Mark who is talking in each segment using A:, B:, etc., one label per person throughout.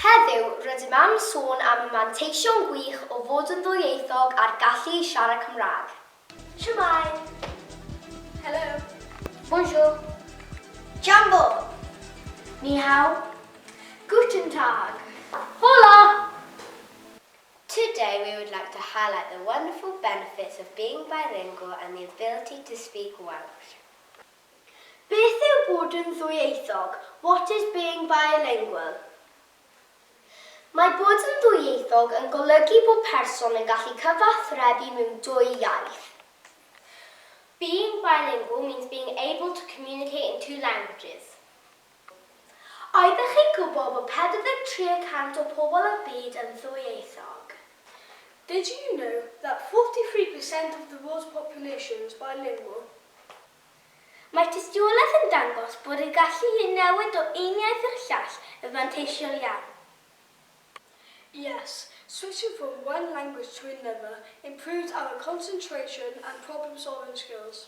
A: Heddiw, rydym am sôn am y manteision gwych o fod yn ddwyieithog a'r gallu i siarad Cymraeg. Shwmae! Helo! Bonjour! Jambo! Ni hao! Guten Tag! Hola! Today we would like to highlight the wonderful benefits of being bilingual and the ability to speak Welsh. Beth yw bod yn ddwyieithog, what is being bilingual? Mae bod yn ddwyieithog yn golygu bod person yn gallu cyfathrebu mewn dwy iaith. Being bilingual means being able to communicate in two languages. Oeddech chi'n gwybod bod 43 y cant o pobl y byd yn ddwyieithog? Did you know that 43 per cent of the world's population is bilingual? Mae tystiolaeth yn dangos bod y gallu i newid o un iaith i'r llall yn fanteisiol iawn. Yes, switching from one language to another improves our concentration and problem-solving skills.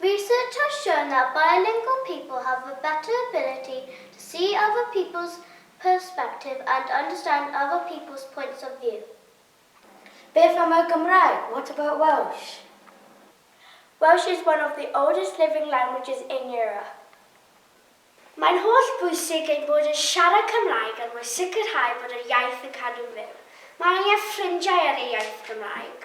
A: Research has shown that bilingual people have a better ability to see other people's perspective and understand other people's points of view. Beth am y Gymraeg? What about Welsh? Welsh is one of the oldest living languages in Europe. Mae'n holl bwysig ein bod yn siarad Cymraeg er mwyn sicrhau bod yr iaith yn cadw'n fyw. Mae angen ffrindiau ar ei iaith Gymraeg.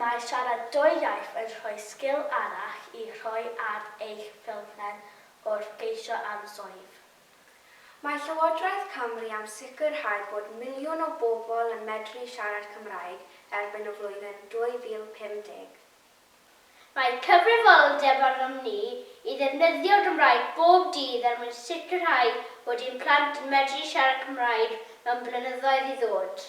A: Mae siarad dwy iaith yn rhoi sgil arall i roi ar eich ffilmpen wrth geisio am swydd. Mae Llywodraeth Cymru am sicrhau bod miliwn o bobl yn medru siarad Cymraeg erbyn y flwyddyn 2050. Mae cyfrifoldeb arnom ni i ddefnyddio'r Gymraeg bob dydd er mwyn sicrhau bod ein plant yn medru siarad Cymraeg mewn blynyddoedd i ddod.